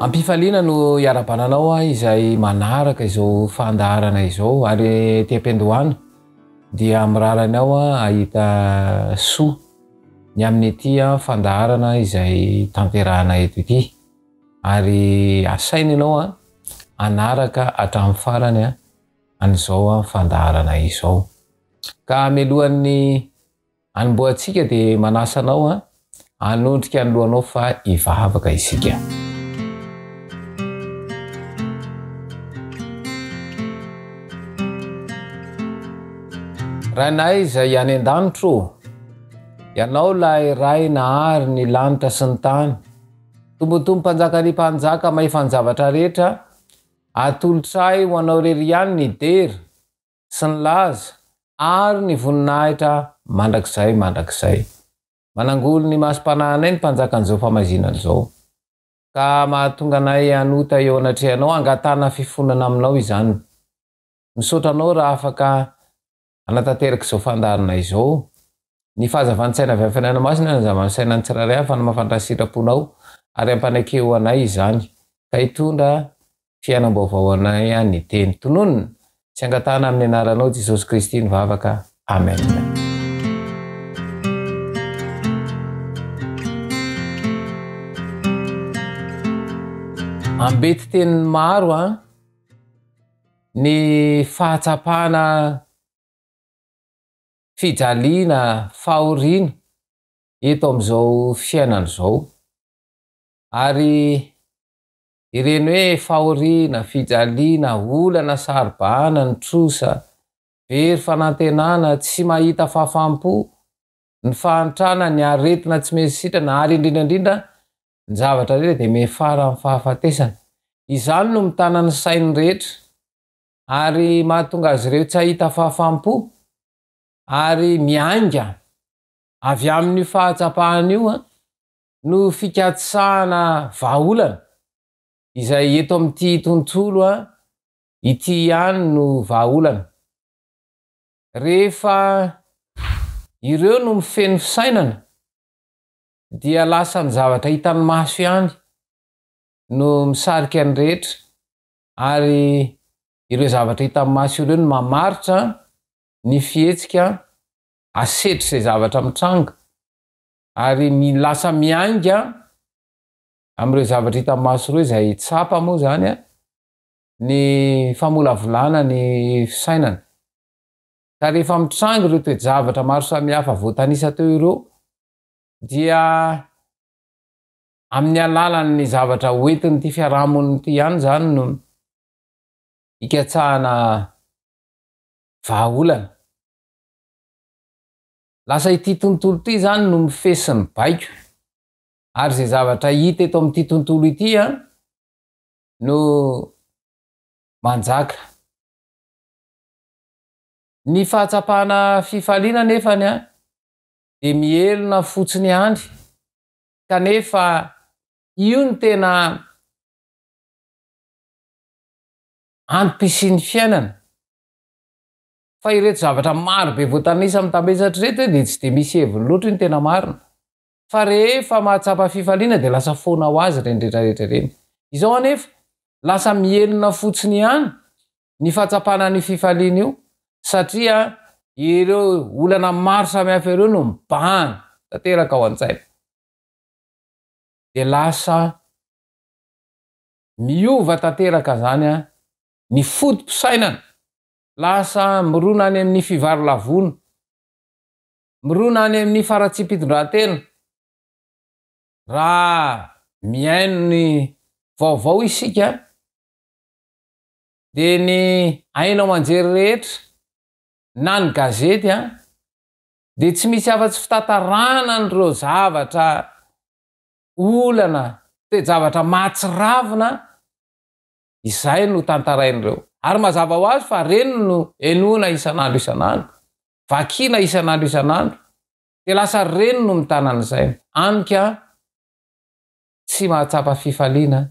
Am-pifaliana no iarabana anao aho izay manaraka izao fandaharana izao ary ety am-piandohana dia mirara anao ahita soa ny amin'ity fandaharana izay tanterahana eto ity. Ary asaina ianao an, hanaraka hatramin'ny farany an, an'izao an, fandaharana izao. Ka mialohan'ny hanombohantsika dia manasa anao an, hanondrika ny lohanao fa hivavaka isika. Rainay izay any an-danitro, Ianao ilay Ray nahary ny lanitra sy ny tany, Tombotombo mpanjaka ry mpanjaka mahefa ny zavatra rehetra atolotray ho anao rery ihany ny dera sy ny laza ary ny voninahitra mandrakizay mandrakizay manangolo ny masom-panahinay ny mpanjakan'izao famaizinana izao ka mahatonga anay hanota eo anatrehanao hangatahana fifonana aminao izany misaotra anao raha afaka hanatanteraka izao fandaharana izao. Ny fahazavan-tsaina avy amin'ny fanahy masina no hanazava ny sainan'ny tsirairay, hafa ny mahafantatra ny sitraponao, ary hampaneke ho anay izany, ka hitondra fiainam-baovao ho anay ihany ny teny. Tononina sy angatahana amin'ny anaranao Jesosy Kristy ny vavaka. Amen. ambeti-teny maro an. Ny fahatsapana fijaliana fahoriana eto amin'izao fiainana izao. Ary ireny hoe fahoriana, fijaliana, olana saro-bahana ny trosa, very fanantenana, tsy mahita fahafaham-po, ny fahantrana, ny aretina tsy mety sitrana ary indrindra indrindra Ny zavatra rehetra dia miafara amin'ny fahafatesana. Izany no mitana ny sain'ny rehetra ary mahatonga azy ireo tsy hahita fahafaham-po ary miainga avy amin'io fahatsapahana io no fikatsahana vahaolana izay eto amin'ity tontolo ity ihany no vahaolana. Rehefa ireo no mifehy ny fisainana dia lasa ny zavatra hitan'ny maso ihany no misarika ny rehetra ary ireo zavatra hitan'ny maso ireo no mamaritra ny fihetsika asetr'izay zavatra mitranga ary lasa miainga amin'ireo zavatra hitan'ny maso ireo izay tsapa moa izany ny famolavolana ny fisainana. Ka rehefa mitranga ireo toe-javatra maro samihafa voatanisa teo ireo dia amin'ny alalan'ny zavatra hoentin'ity fiarahamonina ity ihany izany no hikatsahana vahaolana. Lasa ity tontolo ity izany no mifehy sy mibaiko ary izay zavatra hita eto amin'ity tontolo ity an no manjaka. Ny fahatsapana fifaliana nefany an dia mihelina fotsiny ihany kanefa io no tena antom-pisian'ny fiainana fa ireto zavatra maro be voatanisa mitambesatra ireto dia tsy dia misy heviny loatra io ny tena marina fa rehefa mahatsapa fifaliana dia lasa foana ho azy ireny rehetra rehetra ireny izao anefa lasa mihelina fotsiny ihany ny fahatsapana an'io fifaliana io satria ireo olana maro samihafa ireo no mibahana tanteraka ao an-tsaina. Dia lasa miova tanteraka izany ny foto-pisainana, lasa mirona any amin'ny fivarolavona, mirona any amin'ny faratsiam-pitondrantena raha mihaino ny vaovao isika dia ny haino aman-jery rehetra na ny gazety an, dia tsy misy afa-tsy fitantarana an'ireo zavatra olana, toe-javatra mahatsiravina izay no tantarain'ireo. Ary mazava ho azy fa ireny no henoina isan'andro isan'andro, vakiana isan'andro isan'andro, dia lasa ireny no mitana ny saina. Amiko an, tsy mahatsapa fifaliana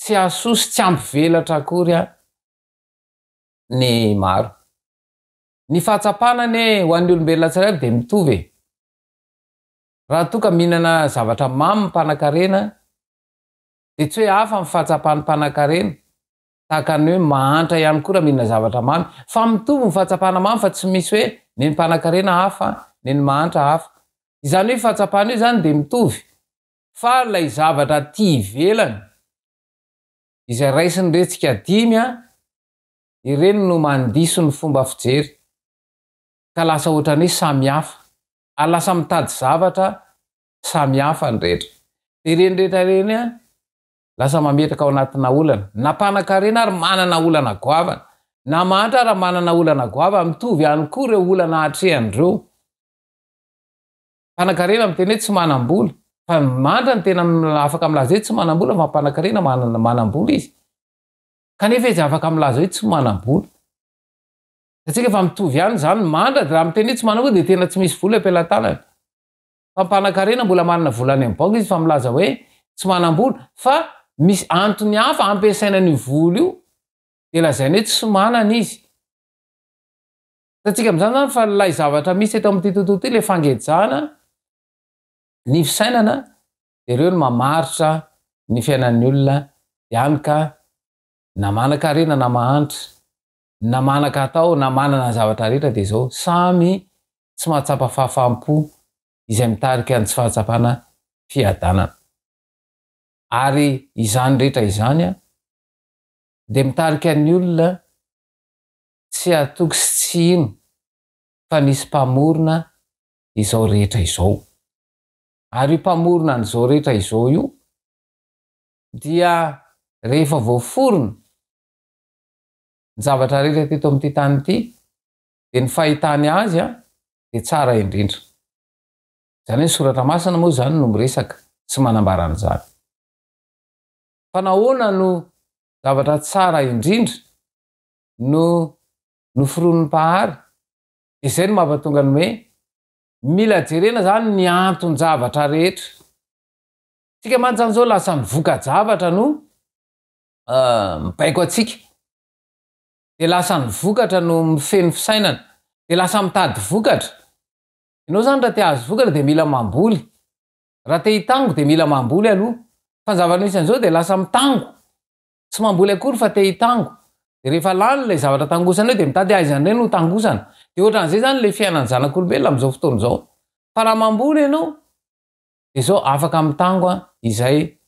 Tsy hahasoa sy tsy hampivelatra akory aho ny maro. Ny fahatsapana anie ho an'ny olombelona tsirairay dia mitovy e! Raha toa ka mihinana zavatra mamy ny mpanankarena dia tsy hoe hafa ny fahatsapan'ny mpanankarena, tahaka ny hoe mahantra ihany koa raha mihinana zavatra mamy, fa mitovy ny fahatsapana mamy fa tsy misy hoe nen'ny mpanankarena hafa, nen'ny mahantra hafa. Izany hoe io fahatsapana io izany dia mitovy. fa ilay zavatra aty ivelany izay raisin'ny retsika dimy an, ireny no mandiso ny fomba fijery ka lasa ohatran'ny hoe samy hafa ary lasa mitady zavatra samy hafa ny rehetra. Dia ireny rehetra ireny an, lasa mametraka ao anatina olana, na mpanakarena ary manana olana goavana, na mahantra ary manana olana goavana, mitovy ihany koa ireo olana atrehany ireo. Mpanakarena miteny hoe tsy manam-bola. Fa ny mandra no tena afaka milaza hoe tsy manam-bola fa mpanakarena manam-bola izy. Kanefa izy afaka milaza hoe tsy manam-bola. Satria rehefa mitovy ihany izany ny mandra dia raha miteny hoe tsy manam-bola dia tena tsy misy vola eo am-pelatanany. Fa mpanakarena mbola manana vola any amin'ny banky izy fa milaza hoe tsy manam-bola. Fa misy antony hafa hampiasaina an'io vola io dia lazainy hoe tsy manana izy. Hitantsika amin'izany izany fa ilay zavatra misy eto amin'ity tontolo ity, ilay fangejana ny fisainana, dia ireo no mamaritra ny fiainan'ny olona ihany ka na manan-karena na mahantra, na manan-katao na manana ny zavatra rehetra dia izao, samy tsy mahatsapa fahafaham-po izay mitarika ny tsy fahatsapana fiadanana. Ary izany rehetra izany dia mitarika ny olona tsy hatoky sy tsy hino fa nisy Mpamorona izao rehetra izao. Ary io Mpamorona an'izao rehetra izao io dia rehefa voaforona ny zavatra rehetra teto amin'ity tany ity dia ny fahitany Azy dia tsara indrindra. Izany hoe ny Soratra Masina moa izany no miresaka sy manambara an'izany. Fa nahoana no zavatra tsara indrindra no noforonin'ny Mpahary dia izay no mampatonga ny hoe mila jerena izany ny anton-javatra rehetra. Isika mantsy izany izao lasa ny voka-javatra no mibaiko antsika, dia lasa ny vokatra no mifehy ny fisainana, dia lasa mitady vokatra. Ianao izany raha te hahazo vokatra dia mila mamboly, raha te hitango dia mila mamboly aloha, fa ny zava-misy an'izao dia lasa mitango, Tsy mamboly akory fa te hitango. Dia rehefa lany ilay zavatra tangosana eo dia mitady aiza indray no ho tangosana. Dia ohatran'izay izany ilay fiainan'ny zanak'olombelona amin'izao fotoana izao. Fa raha mamboly ianao dia izao afaka mitango izay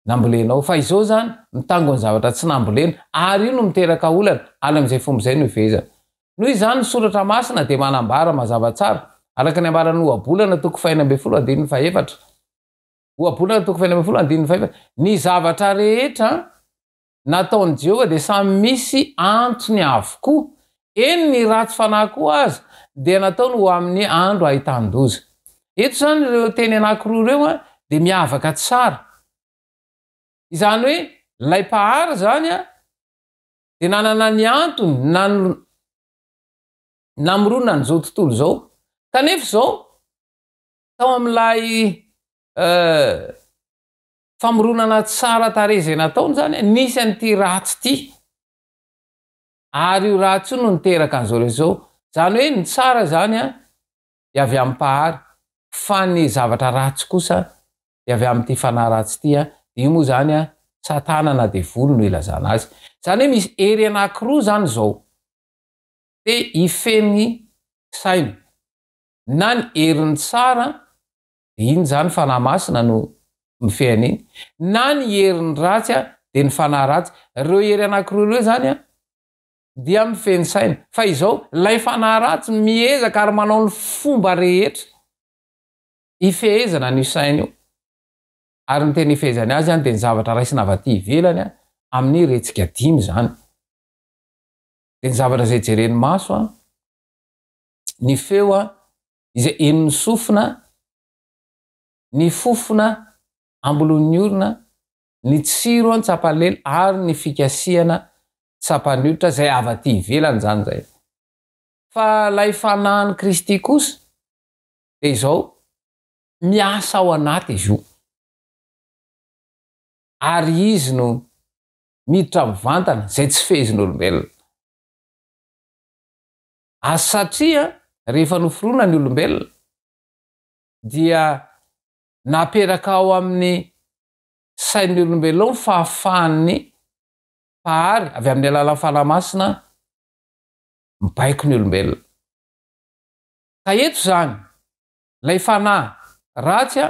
nambolenao. Fa izao izany mitango ny zavatra tsy nambolena ary io no miteraka olana ary amin'izay fomba izay no hifehezana. Noho izany ny soratra masina dia manambara mazava tsara araka ny ambaran'ny ohabolana toko fahenina ambin'ny folo andininy fahefatra. Ohabolana toko fahenina ambin'ny folo andininy fahefatra, Ny zavatra rehetra nataon'i Jehovah dia samy misy antony avokoa, eny ny ratsy fanahy koa aza dia nataony ho amin'ny andro ahitan-doza. Eto izany ireo teny anankiroa ireo dia miavaka tsara. Izany hoe ilay Mpahary izany dia nanana ny antony namoronan'izao tontolo izao. Kanefa izao Tao amin'ilay famoronana tsara tarehy izay nataony izany, nisy an'ity ratsy ity. Ary io ratsy io no niteraka an'izao rehetra izao. Izany hoe ny tsara izany dia avy amin'ny Mpahary, fa ny zavatra ratsy kosa dia avy amin'ity fanahy ratsy ity. Dia io moa izany Satana na Devoly no ilazana azy. Izany hoe misy hery anankiroa izany izao. Dia hifehy ny saina. na ny herin'ny tsara, dia inona izany fanahy masina no mifehy an'iny, na ny herin'ny ratsy, dia ny fanahy ratsy. Ireo hery anankiroa ireo izany dia mifehy ny saina. Fa izao, ilay fanahy ratsy miezaka ary manao ny fomba rehetra hifehezana an'io saina io. Ary ny tena hifehezany azy dia ny zavatra raisina avy aty ivelany, amin'ny retsika dimy izany. Dia ny zavatra izay jeren'ny maso, ny feo izay henon'ny sofina, ny fofona ambolon'ny orona, ny tsiro an tsapalely ary ny fikasihana tsapan'ny hoditra izay avy aty ivelany izany izay. Fa ilay fanahin'i Kristy kosa dia izao miasa ao anaty izy io. Ary izy no miditra mivantana izay tsy fehezin'olombelona. Ary satria rehefa noforona ny olombelona dia naperaka ao amin'ny sain'ny olombelona ao ny fahafahan'ny Mpahary avy amin'ny alalan'ny Fanahy Masina mibaiko ny olombelona. Ka eto izany, ilay fanahy ratsy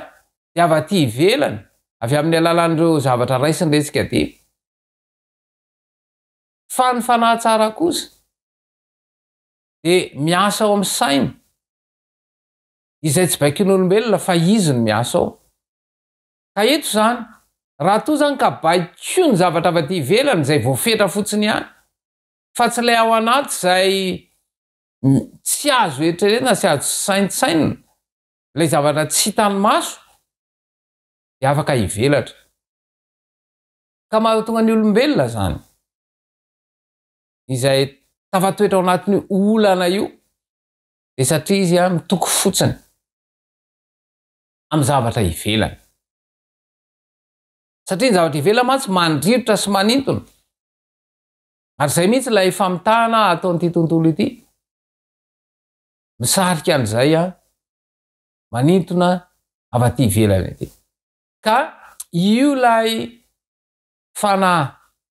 dia avy aty ivelany, avy amin'ny alalan'ireo zavatra raisiny iretsika dimy. Fa ny fanahy tsara kosa dia miasa ao amin'ny sainy izay tsy baikon'olombelona fa izy no miasa ao. Ka eto izany, raha toa izany ka baiko ny zavatra avy aty ivelany izay voafetra fotsiny ihany fa tsy ilay ao anaty izay tsy azo eritreretina sy azo saintsainina, ilay zavatra tsy hitan'ny maso dia afaka hivelatra. Ka mahatonga ny olombelona izany. izay tafatoetra ao anatin'io olana io dia satria izy a mitoky fotsiny amin'ny zavatra ivelany. Satria ny zavatra ivelany mantsy mandrirotra sy manintona. Ary izay mihitsy ilay famitahana ataon'ity tontolo ity. Misarika an'izay a manintona avy aty ivelany ity. Ka io ilay fanahy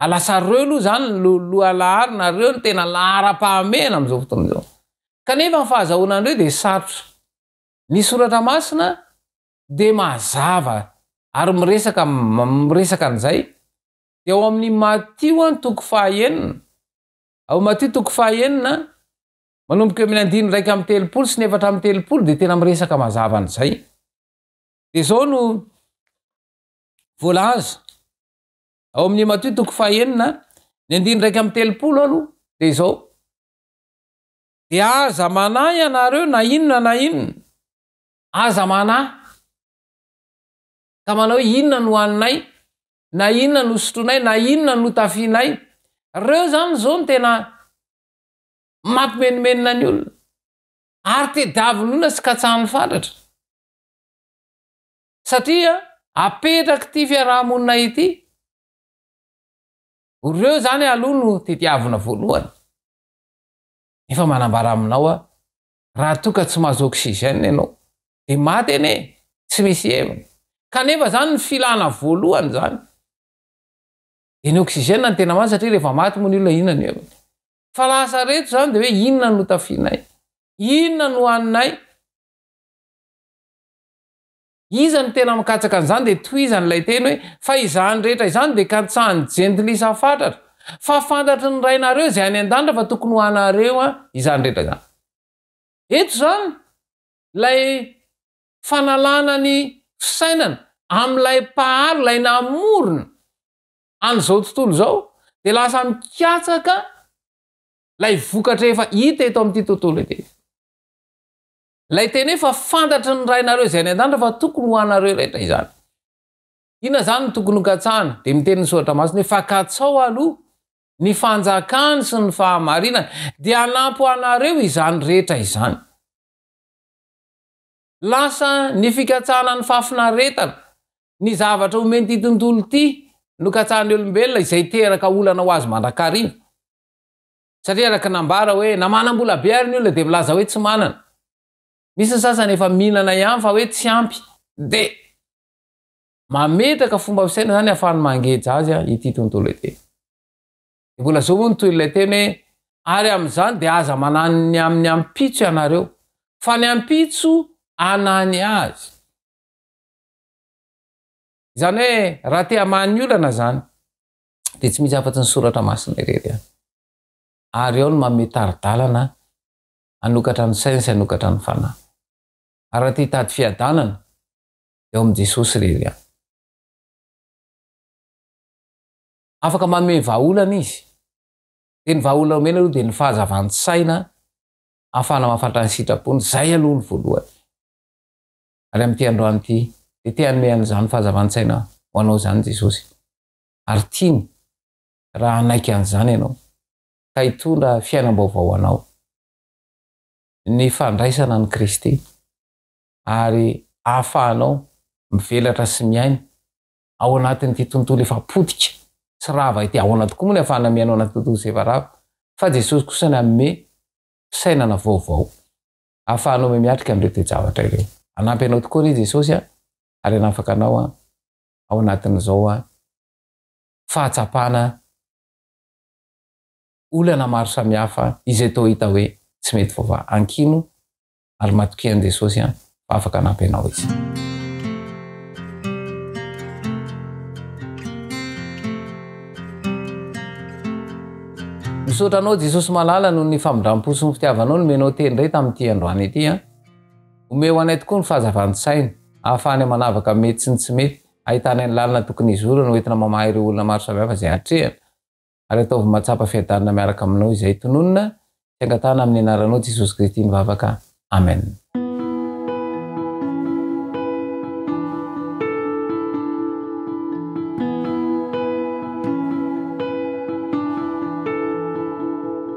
Ary lasa reo aloha izany no lohalahary na reo no tena laharam-pahamehana amin'izao fotoana izao. Kanefa ny fahazahoana an'ireo dia sarotra. Ny Soratra Masina dia mazava ary miresaka miresaka an'izay. Dia ao amin'ny Matio an, toko fahaenina, ao Matio toko fahaenina, manomboka eo amin'ny andininy iraika amby telopolo sy ny efatra amby telopolo dia tena miresaka mazava an'izay. Dia izao no voalaza. Ao amin'ny Matio toko fahenina, ny andininy iraika amby telopolo aloha dia izao. Dia aza manahy ianareo na inona na inona. Aza manahy. Ka manao hoe inona no haninay, na inona no sotroinay, na inona no tafianay. Ireo izany izao no tena mampimenomenona ny olona. Ary tediavin'ny olona sy katsahan'ny fatratra. satria apetraky ity fiaraha-monina ity, ireo izany aloha no tediavina voalohany, nefa manambara aminao aho, raha toa ka tsy mahazo oxygène ianao, dia maty anie, tsy misy heviny, kanefa izany no filana voalohany izany, dia ny oxygène no tena marina, satria rehefa maty moa ny olona inona ny heviny? fa lasa reto izany dia hoe inona no hotafianay? inona no ho haninay? Iza no tena mikatsaka an'izany dia tohizany ilay teny hoe, fa izany rehetra izany dia kantsahan'ny jentilisa fatratra, fa fantatry ny Rainareo izay any an-danitra fa tokony ho anareo izany rehetra izany. Eto izany, ilay fanalana ny fisainana amin'ilay Mpahary, ilay namorona an'izao tontolo izao, dia lasa mikatsaka ilay vokatra efa hita eto amin'ity tontolo ity. Ilay teny hoe fa fantatry ny Rainareo izay any an-danitra fa tokony ho anareo rehetra izany. Inona izany no tokony hokatsahana? Dia miteny ny Soratra Masina hoe fa katsao aloha ny fanjakany sy ny fahamarinany, dia hanampy ho anareo izany rehetra izany. Lasa ny fikatsahana ny fahafinaretana, ny zavatra omen'ity tontolo ity nokatsahan'ny olombelona izay teraka olana ho azy mandrakariva. Satria araka ny nambara hoe na manam-bola be ary ny olona dia milaza hoe tsy manana. Misy ny sasany efa mihinana ihany fa hoe tsy ampy dia mametraka fomba fisaina izany hahafahany mangeja azy ity tontolo ity. Dia mbola zao moa ny tohin'ilay teny hoe ary amin'izany dia aza manano ny amin'ny ampitso ianareo fa ny ampitso anany azy. Izany hoe raha te hamaha ny olana izany dia tsy misy afa-tsy ny soratra masina irery ihany. Ary ao no manome tari-dalana hanokatra ny saina sy hanokatra ny fanahy. Ary raha te hitady fiadanana dia ao amin'i Jesosy irery ihany. Afaka manome vahaolana izy. Dia ny vahaolana omena aloha dia ny fahazavan-tsaina ahafahana mahafantatra ny sitrapony, izay aloha ny voalohany. Ary amin'ity androany ity dia te hanome an'izany fahazavan-tsaina ho anao izany Jesosy. ary tiany raha hanaiky an'izany ianao ka hitondra fiainam-baovao ho anao. Ny fandraisana an'i Kristy ary ahafahanao mivelatra sy miaina ao anatin'ity tontolo efa potika sy rava ity, ahoana tokoa moa ny ahafahana miaina ao anaty tontolo izay efa rava fa Jesosy kosa nanome fisainana vaovao ahafahanao mihamiatrika an'ireo toe-javatra ireo. Hanampy anao tokoa re Jesosy a! Ary hanafaka anao a! ao anatin'izao fahatsapana olana maro samihafa izay toa hita hoe tsy mety voava ankino ary matokia an'i Jesosy fa afaka hanampy anao Izy. Misaotra anao Jesosy malala noho ny famindram-po sy ny fitiavanao nomenao teny indray tamin'ity androany ity an. Omeo anay tokoa ny fahazavan-tsaina, ahafahany manavaka ny mety sy ny tsy mety, ahitany ny lalana tokony hizorany hoentina mamaha ireo olona maro samihafa izay atrehany, ary ataovy mahatsapa fiadanana miaraka aminao izay tononina sy angatahana amin'ny anaranao Jesosy Kristy ny vavaka. Amen.